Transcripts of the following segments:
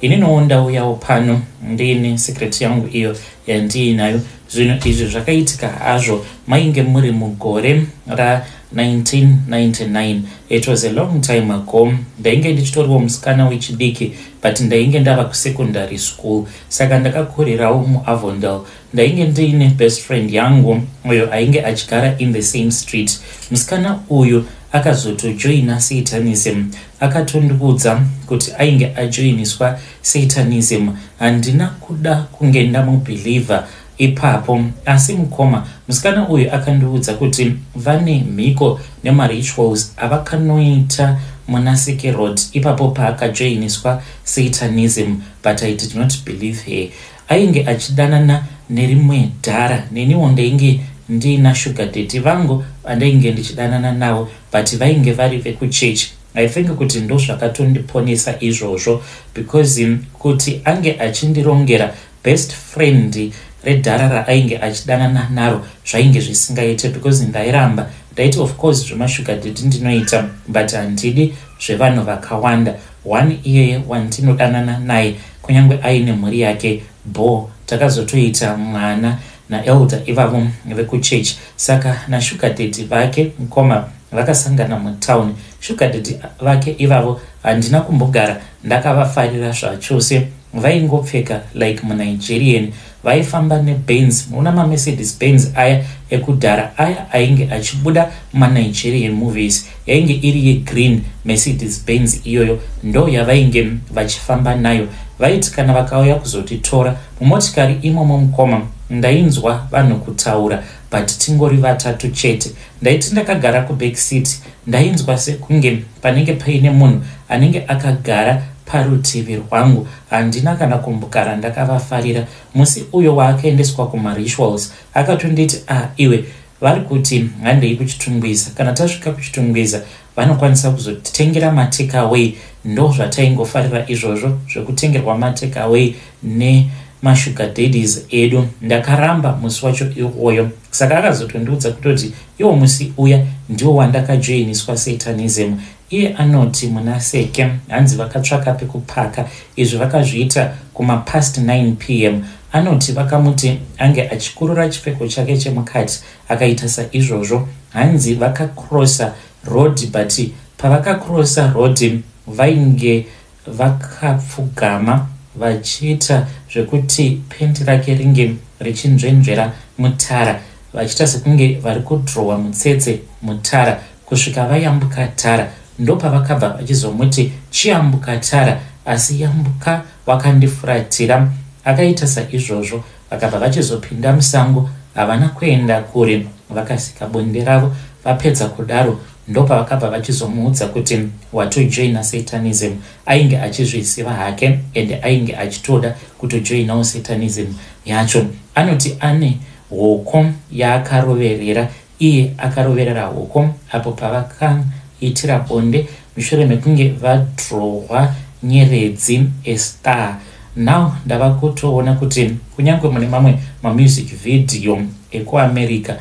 Ininiwo ndauyawo pano ndiine secret yangu iyo yandiinayo. Zvinhu izvi zvakaitika hazvo mainge muri mugore ra 1999. It was a long time ago. Ndainge ndichitoriwo musikana wechidiki but ndainge ndava kusecondary school saka ndakakurirawo muAvondale. Ndainge ndiine best friend yangu uyo ainge achigara in the same street. Musikana uyu akazotojoina Satanism Akatondiudza kuti ainge ajoiniswa Satanism handina kuda kunge ndamubeliever ipapo asi mukoma musikana uyu akandiudza kuti vane mhiko nemarituals avakanoita muna Seke Road ipapo paakajoiniswa Satanism but I did not believe her. Ainge achidanana nerimwe dhara neniwo ndainge ndiina sugar daddy vangu vandainge ndichidanana navo but vainge vari vekuchurch I think kuti ndozvakatondiponesa izvozvo because kuti ange achindirongera best friend redhara raainge achidanana naro zvainge zvisingaite because ndairamba ndaiti of course zvemashuga dedi ndinoita but handidi zvevanhu vakawanda one iyeye wandinodanana naye kunyange aine mhuri yake Bho takazotoita mwana na elder ivavo veku church saka na sugar daddy vake mkoma vakasangana mu town sugar daddy vake ivavo handina kumbogara ndakavafarira zvachose vaingopfeka like mu Nigerian vaifamba ne Benz una ma Mercedes Benz aya ekudhara aya ainge achibuda muma Nigerian movies Yainge iri ye green Mercedes Benz iyoyo ndo yavainge vachifamba nayo. Vaiti kana vakauya kuzotitora mumotikari imomo mukoma ndainzwa vanhu kutaura but tingori vatatu chete. Ndaiti ndakagara ku back seat ndainzwa sekunge panenge paine munhu anenge akagara parutivi rwangu. Handina kana kumbgara ndakavafarira. Musi uyo waakaendeswa kuma rituals akatonditi ah iwe Vari kuti handei kuChitungwiza. Kana tasvika kuChitungwiza vanokwanisa kuzotitengera matake away ndozvataingofarira izvozvo zvekutengerwa matake away nemasugar daddies edu. Ndakaramba musi wacho iwoyo saka akazotondiudza kutoti iwo musi uya ndiwo wandakajoiniswa Satanism Iye anoti muna Seke hanzi vakatsvaka pekupaka izvi vakazviita kuma past 9 pm. Anoti vakamuti ange achikurura chipfeko chake chemukati akaita saizvozvo. Hanzi vaka crosser road but pavaka crosser road vainge. Vakapfugama vachiita zvekuti pant rake ringe richinzvenzvera mutara vachiita sekunge vari kudhirowa mutsetse mutara kusvika vayambuka tara. Ndopavakabva vachizomuti chiyambuka tara asi yambuka wakandifuratira. Akaita saizvozvo vakabva vachizopinda musango havana kuenda kure vakasika bonde ravo vapedza kudaro Ndopavakabva vachizomuudza kuti watojoina satanism. Ainge achizviziva hake and ainge achitoda kutojoinawo satanism yacho. Anoti ane hoko yaakaroverera iye akaroverera hoko apo pavakaitira bonde mushure mekunge vadrohwa nyeredzi estar now ndava kutoona kuti kunyange mune mamwe mamusic vhidhiyo ekuamerica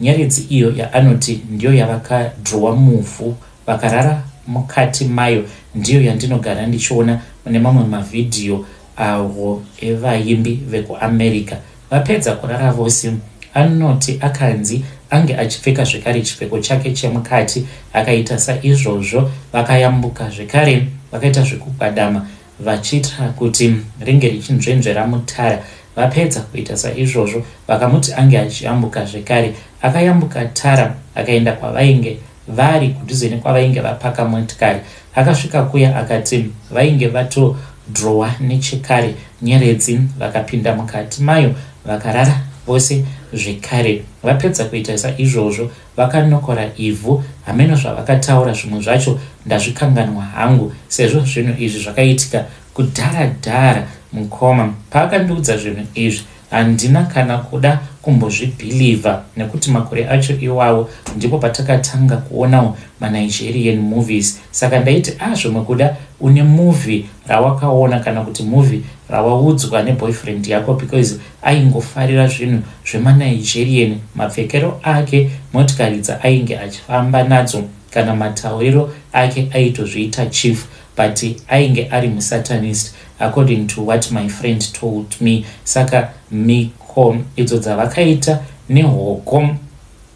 Nyeredzi iyo yaanoti ndiyo yavakadhirowa muvhu vakarara mukati mayo ndiyo yandinogara ndichiona mune mamwe mavhidhiyo avo evaimbi vekuAmerica. Vapedza kurara vose, anoti akanzi ange achipfeka zvekare chipfeko chake chemukati akaita saizvozvo vakayambuka zvekare vakaita zvekugwadama vachiitira kuti ringe richinzvenzvera mutara. Vapedza kuita saizvozvo, vakamuti ange achiyambuka zvekare. Akayambuka tara akaenda kwavainge vari, kudhuze nekwavainge vapaka motikari. Akasvika kuya akati vainge vatodhirowa nechekare nyeredzi, vakapinda mukati mayo vakarara vose zvekare. Vapedza kuita saizvozvo, Vakanokora ivhu hameno zvavakataura zvimwe zvacho ndazvikanganwa hangu sezvo zvinhu izvi zvakaitika kudhara dhara mukoma paakandiudza zvinhu izvi handina kana kuda kumbozvibhilivha nekuti makore acho iwawo ndipo patakatanga kuonawo manigerian movies saka ndaiti a ah, zvimwe kuda une movie rawakaona kana kuti movie rawaudzwa neboyfriend yako because Aingofarira zvinhu zvemaNigerian, mapfekero ake, motikari dzaainge achifamba nadzo kana matauriro ake aitozviita chief but ainge ari muSatanist according to what my friend told me saka mhiko idzo dzavakaita nehoko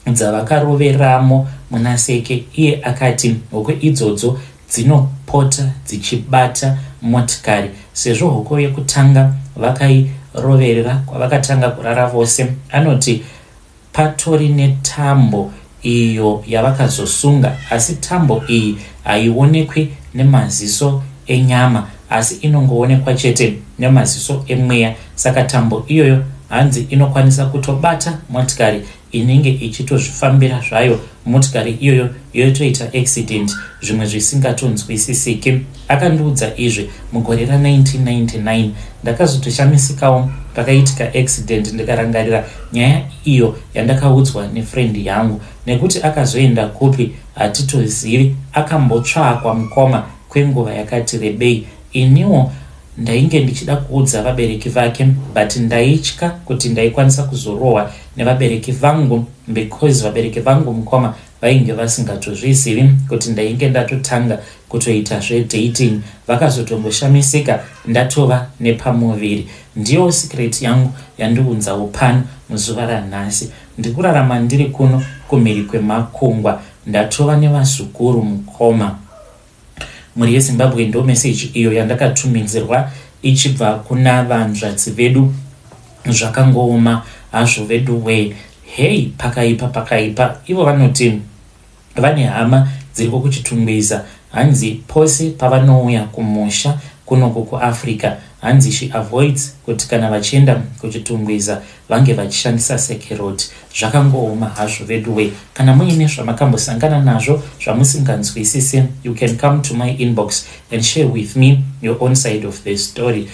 dzavakaroveramo muna Seke iye akati hoko idzodzo dzinopota dzichibata motikari sezvo hoko yekutanga vakairoverera kwavakatanga kurara vose. Anoti patori netambo iyo yavakazosunga asi tambo iyi haionekwi nemaziso enyama asi inongoonekwa chete nemaziso emweya saka tambo iyoyo hanzi inokwanisa kutobata motikari inenge ichitozvifambira zvayo motikari iyoyo yotoita accident zvimwe zvisingatonzwisisiki akandiudza izvi mugore ra 1999 ndakazotoshamisikawo pakaitika accident ndikarangarira nyaya iyo yandakaudzwa nefriend yangu nekuti akazoenda kupi hatitozivi akambotsvakwa mukoma kwenguva yakati rebei iniwo ndainge ndichida kuudza vabereki vake but ndaitya kuti ndaikwanisa kuzorohwa nevabereki vangu because vabereki vangu mukoma vainge vasingatozvizivi kuti ndainge ndatotanga kutoita zvedating vakazotongoshamisika ndatova nepamuviri ndiyo secret yangu yandiunzawo pano muzuva ranhasi ndikurarama ndiri kuno kumhiri kwemakungwa ndatova nevazukuru mukoma Mhuri yeZimbabwe ndo message iyo yandakatuminzirwa ichibva kuna vanzvadzi vedu zvakangooma hazvo veduwee hey pakaipa pakaipa ivo vanoti vane hama dziriko kuchitungwiza hanzi pose pavanouya kumusha kunoko kuafrica hanzi she avoids kuti kana vachienda kuchitungwiza vange vachishandisa sekeroti zvakangooma hazvo veduwee kana muine zvamakambosangana nazvo zvamusinganzwisise you can come to my inbox and share with me your own side of the story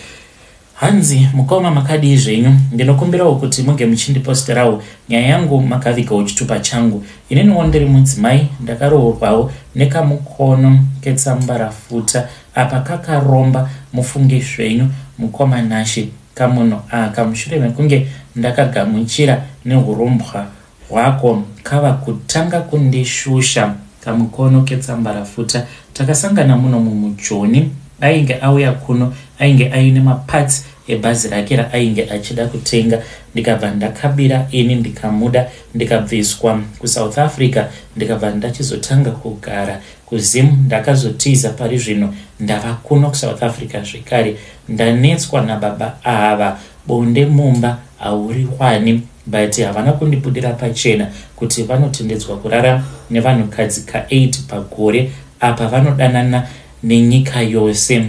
hanzi mukoma makadii zvenyu ndinokumbirawo kuti muge muchindiposterawo nyaya yangu makavigawo chitupa changu ininiwo ndiri mudzimai ndakaroorwawo nekamukono ketsambarafuta Apa kakaromba mufunge zvenyu mukoma Nashe kamunhu aka mushure mekunge ndakagamuchira nehurombwa hwako kava kutanga kundishusha. Kamukono ketsambarafuta takasangana muno mumu Joni ainge auya kuno ainge aine maparts ebhazi rake raainge achida kutenga ndikabva ndakabira ini ndikamuda ndikabviswa kuSouth Africa ndikabva ndachizotanga kugara Kuzim ndakazotiza parizvino ndava kuno kusouth Africa zvekare ndanetswa nababa ava bonde mumba hauriwani but havana kundibudira pachena kuti vanotendedzwa kurara nevanhukadzi kaeight pagore apa vanodanana nenyika yose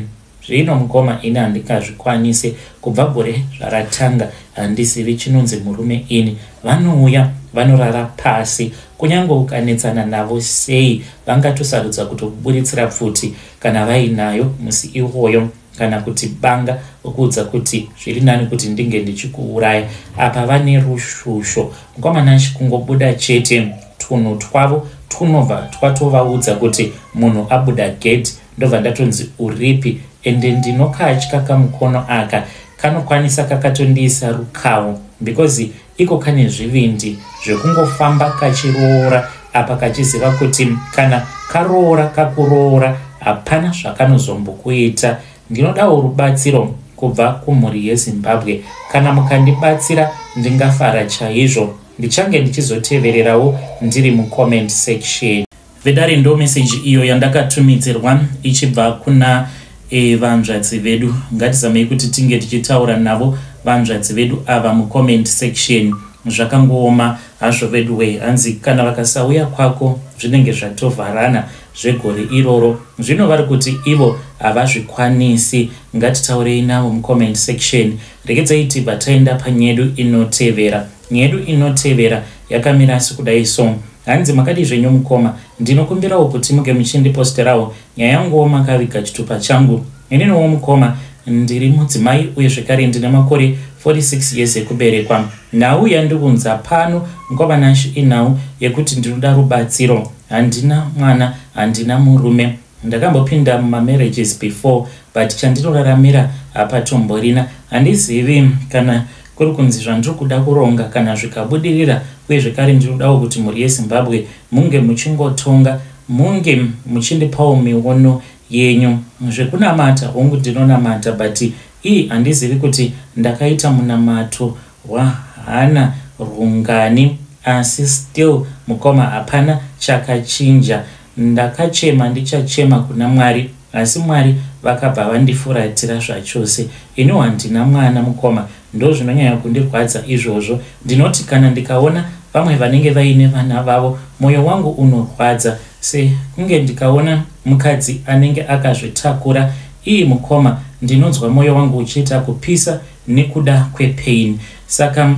Zvino mukoma ini handingazvikwanise, kubva gore zvaratanga handizivi chinonzi murume ini. Vanouya vanorara pasi, kunyange ukanetsana navo sei vangatosarudza kutokuburitsira pfuti kana vainayo musi iwoyo kana kuti banga vokuudza kuti zviri nani kuti ndinge ndichikuuraya. Apa vane rushusho mukoma Nash kungobuda chete tunhu twavo twunobva twatovaudza kuti munhu abuda gedhi Ndobva ndatonzi uripi ende ndinokatya kamukono aka kanokwanisa kakatondiisa rukawo because iko kane zvivindi zvekungofamba kachiroora apa kachiziva kuti kana karoora kakuroora hapana zvakanozombokuita ndinodawo rubatsiro kubva kumhuri yezimbabwe kana mukandibatsira ndingafara chaizvo ndichange ndichizotevererawo ndiri mucomment section Vedare ndo message iyo yandakatumidzirwa ichibva kuna e, vanzvadzi vedu. Ngatizamei kuti tinge tichitaura navo vanzvadzi vedu ava mucomment section. Zvakangooma hazvo veduwe, hanzi kana vakasauya kwako zvinenge zvatovharana zvegore iroro. Zvino vari kuti ivo havazvikwanisi. Ngatitaurei navo mucomment section. Rekedzai tibva taenda panyedu inotevera. Nyedu inotevera yakamira sikudai so. Hanzi makadii zvenyu mukoma, ndinokumbirawo kuti muge muchindiposterawo nyaya yanguwo makaviga chitupa changu. Ininiwo mukoma ndiri mudzimai uye zvekare ndine makore 46 years ekuberekwa. Nhau yandiunza pano mukoma Nash inhau yekuti ndinoda rubatsiro. Handina mwana, handina murume. Ndakambopinda muma marriages before but chandinoraramira hapatomborina. Handizivi kana kuri kunzi zvandiri kuda kuronga kana zvikabudirira uye zvekare ndinodawo kuti mhuri yeZimbabwe munge muchingotonga munge muchindipawo miono yenyu. Zvekunamata hongu ndinonamata but ii handizivi kuti ndakaita munamato hwahana rwungani asi still mukoma hapana chakachinja ndakachema ndichachema kuna mwari asi mwari vakabva vandifuratira zvachose iniwo handina mwana mukoma ndozvinonyanya kundirwadza izvozvo ndinoti kana ndikaona vamwe vanenge vaine vana vavo mwoyo wangu unorwadza sekunge ndikaona mukadzi anenge akazvitakura ii mukoma ndinonzwa mwoyo wangu uchiita kupisa nekuda kwepain saka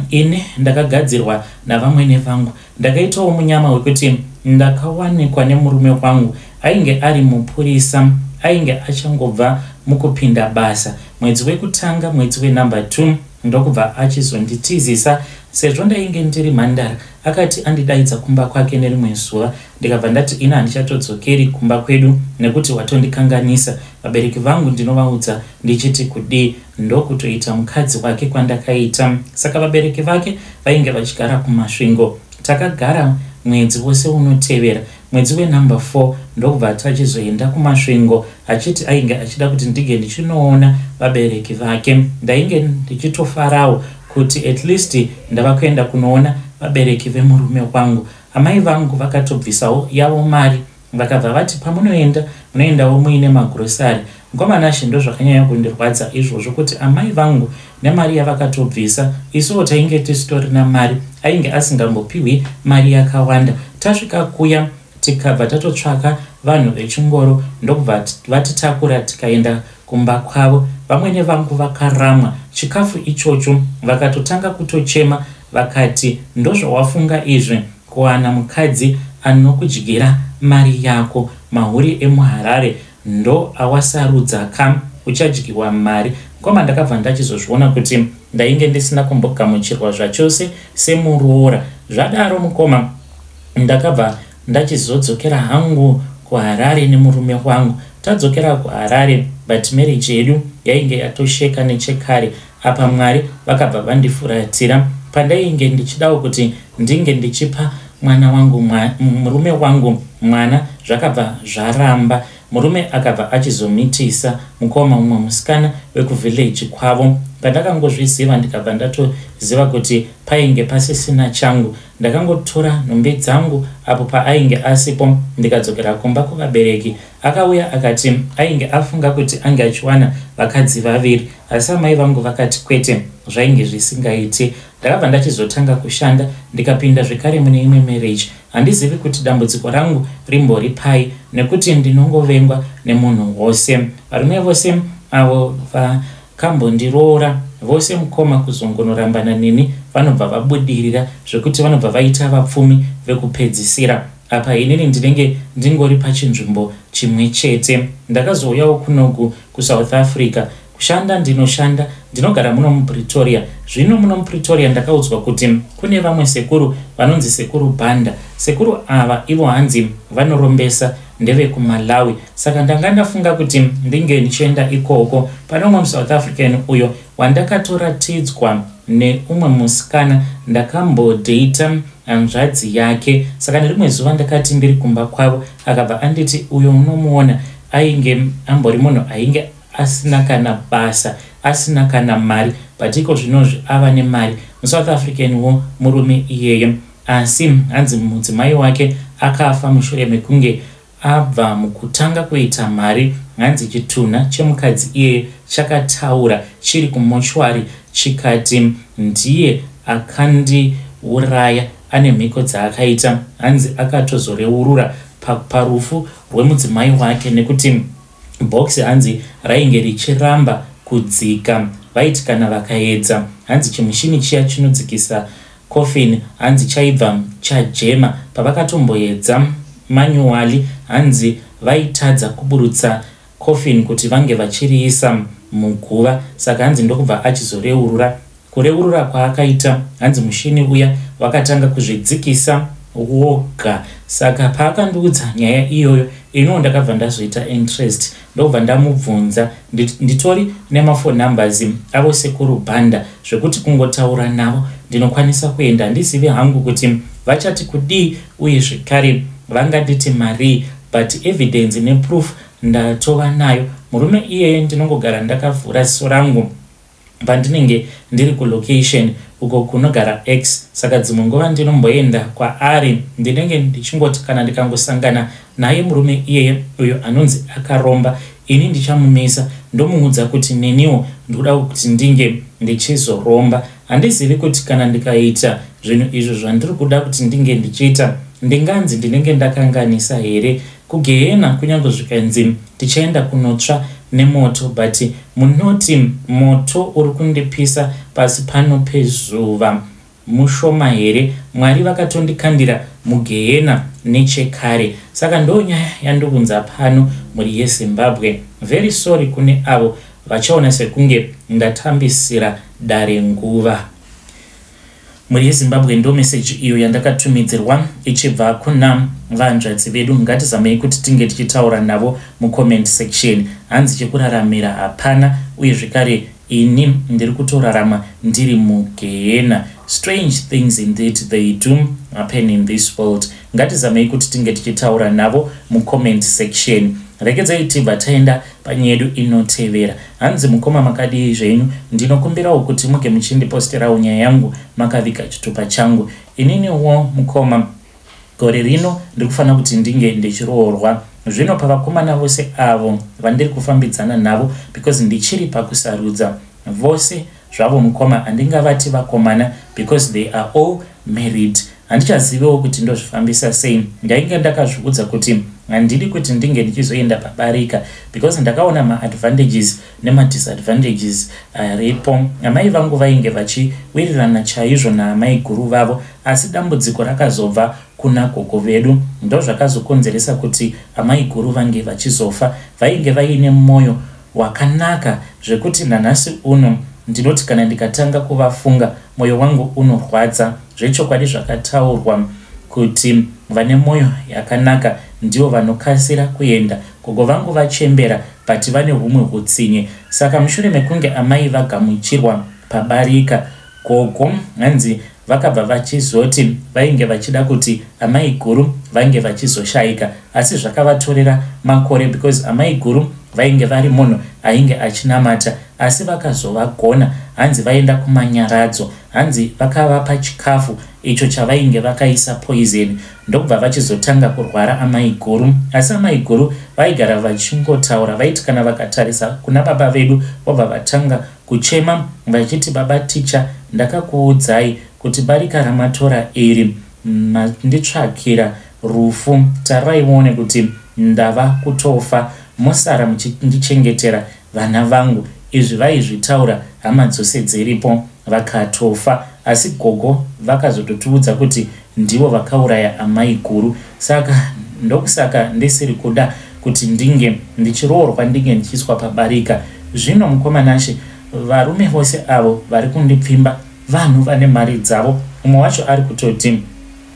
ini ndakagadzirwa navamwene vangu ndakaitawo munyama wekuti ndakawanikwa nemurume wangu ainge ari mupurisa ainge achangobva mukupinda basa mwedzi wekutanga mwedzi wenumber two ndokubva achizonditizisa sezvo ndainge ndiri mhandara akati andidaidza kumba kwake nerimwe zuva ndikabva ndati ini handichatodzokeri kumba kwedu nekuti watondikanganisa vabereki vangu ndinovaudza ndichiti kudii ndokutoita mukadzi wake kwandakaita saka vabereki vake vainge vachigara kumasvingo takagara mwedzi wose unotevera mwedzi wenumber 4 ndokubva tachizoenda kumasvingo achiti ainge achida kuti ndige ndichinoona vabereki vake ndainge ndichitofarawo kuti at least ndava kuenda kunoona vabereki vemurume wangu amai vangu vakatobvisawo yavo mari Vakabva vati pamunoenda munoendawo muine magrocery. Mkomanashe ndozvakanyanya kundirwadza izvozvo kuti amai vangu nemari yavakatobvisa isuwo tainge tisitorina mari ainge asingambopihwi mari yakawanda. Tasvika kuya tikabva tatotsvaka vanhu vechingoro ndokubva vatitakura tikaenda kumba kwavo. Vamwene vangu vakaramwa chikafu ichocho vakatotanga kutochema vakati ndozvawafunga izvi Kuwana mukadzi anokudyira mari yako mahure emuHarare ndo awasarudza ka uchadyiwa mari mkoma ndakabva ndachizozviona kuti ndainge ndisina kumbogamuchirwa zvachose semuroora zvadaro mukoma ndakabva ndachizodzokera hangu kuHarare nemurume wangu tadzokera kuHarare but marriage yedu yainge yatosheka nechekare apa mwari vakabva vandifuratira pandainge ndichidawo kuti ndinge ndichipa mwana wangu murume wangu mwana zvakabva zvaramba murume akabva achizomitisa mukoma mumwe musikana wekuvhillaji kwavo pandakangozviziva ndikabva ndatoziva kuti painge pasisina changu ndakangotora nhumbi dzangu apo paainge asipo ndikadzokera kumba kuvabereki Akauya akati ainge afunga kuti ange achiwana vakadzi vaviri asi amai vangu vakati kwete zvainge zvisingaiti. Ndakabva ndachizotanga kushanda ndikapinda zvekare mune imwe marriage. Handizivi kuti dambudziko rangu rimbori pai nekuti ndinongovengwa nemunhu wose. Varume vose avo vakambondiroora vose mukoma kuzongonorambana neni vanobva vabudirira zvekuti vanobva vaita vapfumi vekupedzisira. apa inini ndinenge ndingori pachinzvimbo chimwe chete ndakazouyawo kunogu kusouth africa kushanda ndinoshanda ndinogara muno mupretoria zvino muno mupretoria ndakaudzwa kuti kune vamwe sekuru vanonzi sekuru banda sekuru ava ivo hanzi vanorombesa ndevekumalawi saka ndanga ndafunga kuti ndinge ndichienda ikoko pane umwe musouth african uyo wandakatoratidzwa neumwe musikana ndakambodata hanzvadzi yake saka nerimwe zuva ndakati ndiri kumba kwavo akabva anditi uyo unomuona ainge ambori munhu ainge asina kana basa asina kana mari but iko zvinozvi ava nemari musouth african wo murume iyeye asi hanzi mudzimai wake akafa mushure mekunge Abva mukutanga kuita mari hanzi chitunha chemukadzi iyeye chakataura chiri kumochwari chikati ndiye akandiuraya ane mhiko dzaakaita hanzi akatozoreurura parufu rwemudzimai wake nekuti box hanzi rainge richiramba kudzika vaiti kana vakaedza hanzi chimushini chiya chinodzikisa Coffin hanzi chaibva chajema pavakatomboedza manually hanzi vaitadza kuburutsa coffin kuti vange vachiriisa muguva saka hanzi ndokubva achizoreurura. Kureurura kwaakaita hanzi mushini uya wakatanga kuzvidzikisa woga saka paakandiudza nyaya iyoyo iniwo ndakabva ndazoita interest ndobva ndamubvunza ndit, nditori nemaphone numbers avo sekuru banda zvekuti kungotaura navo ndinokwanisa kuenda handizivi hangu kuti vachati kudii uye zvekare vanganditi marii but evidence neproof ndatova nayo murume iyeye ndinongogara ndakavhura ziso rangu pandinenge ndiri kulocation uko kunogara x saka dzimwe nguva ndinomboenda kwaari ndinenge ndichingoti kana ndikangosangana naye murume iyeye uyo anonzi akaromba ini ndichamumisa ndomuudza kuti neniwo ndikuda kuti ndinge ndichizoromba handizivi kuti kana ndikaita zvinhu izvo zvandiri kuda kuti ndinge ndichiita ndinganzi ndinenge ndakanganisa here Kugehena kunyange zvikanzi tichaenda kunotsva nemoto but munoti moto uri kundipisa pasi pano pezuva mushoma here? Mwari vakatondikandira mugehena nechekare saka ndo nyaya yandiunza pano mhuri yeZimbabwe. Very sorry kune avo vachaona sekunge ndatambisira dare nguva. Mhuri yeZimbabwe ndomeseji iyo yandakatumidzirwa ichibva kuna vanzvadzi vedu. Ngatizamei kuti tinge tichitaura navo mucomment section. Hanzi chekuraramira hapana uye zvekare ini ndiri kutorarama ndiri mugehena. Strange things indeed they do happen in this world. Ngatizamei kuti tinge tichitaura navo mucomment section. Regedzai tibva taenda Panye yedu inotevera. Hanzi mukoma makadii zvenyu ndinokumbirawo kuti muge muchindiposterawo nyaya yangu makaviga chitupa changu. Ininiwo mukoma gore rino ndiri kufanira kuti ndinge ndichiroorwa zvino pavakomana vose avo vandiri kufambidzana navo because ndichiri pakusarudza vose zvavo mukoma handingavati vakomana because they are all married handichazivewo kuti ndozvifambisa sei ndainge ndakazviudza kuti handidi kuti ndinge ndichizoenda pabarika because ndakaona maadvantages nemadisadvantages aripo amai vangu vainge vachiwirirana chaizvo naamai guru vavo asi dambudziko rakazobva kuna gogo vedu ndozvakazokonzeresa kuti amai guru vange vachizofa vainge vaine mwoyo Wakanaka zvekuti nanhasi uno ndinoti kana ndikatanga kuvafunga moyo wangu unorwadza zvechokwadi zvakataurwa kuti vane moyo yakanaka ndivo vanokasira kuenda gogo vangu vachembera but vane humwe hutsinye saka mushure mekunge amai vagamuchirwa pabarika Gogo hanzi vakabva vachizoti vainge vachida kuti amai guru vange vachizoshaika asi zvakavatorera makore because amai guru vainge vari munhu ainge achinamata asi vakazovagona hanzi vaenda kumanyaradzo hanzi vakavapa chikafu icho chavainge vakaisa poizeni ndokubva vachizotanga kurwara amai guru asi amai guru vaigara vachingotaura vaiti kana vakatarisa kuna baba vedu vobva vatanga Kuchema vachiti baba ticha ndakakuudzai kuti barika ramatora iri manditsvakira rufu tarai muone kuti ndava kutofa mosara muchindichengetera vana vangu izvi vaizvitaura hama dzose dziripo vakatofa asi gogo vakazototiudza kuti Ndivo vakauraya amai guru saka ndokusaka ndisiri kuda kuti ndinge ndichiroorwa ndinge ndichiiswa pabarika. Zvino mukoma Nashe varume vose avo vari kundipfimba vanhu vane mari dzavo umwe wacho ari kutoti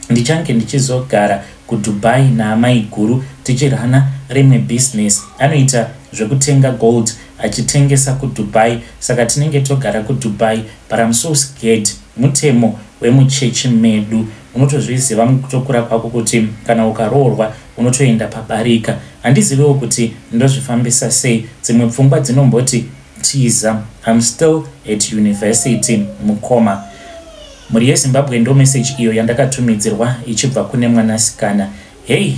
ndichange ndichizogara kuDubai naamai guru tichirana rimwe business anoita zvekutenga gold achitengesa kuDubai saka tinenge togara kuDubai But I'm so scared mutemo wemuchechi medu unotozviziva mukutokura kwako kuti kana ukaroorwa unotoenda pabarika handizivewo kuti ndozvifambisa sei dzimwe pfungwa dzinomboti tiza I'm still at university mukoma mhuri yezimbabwe ndo message iyo yandakatumidzirwa ichibva kune mwanasikana hei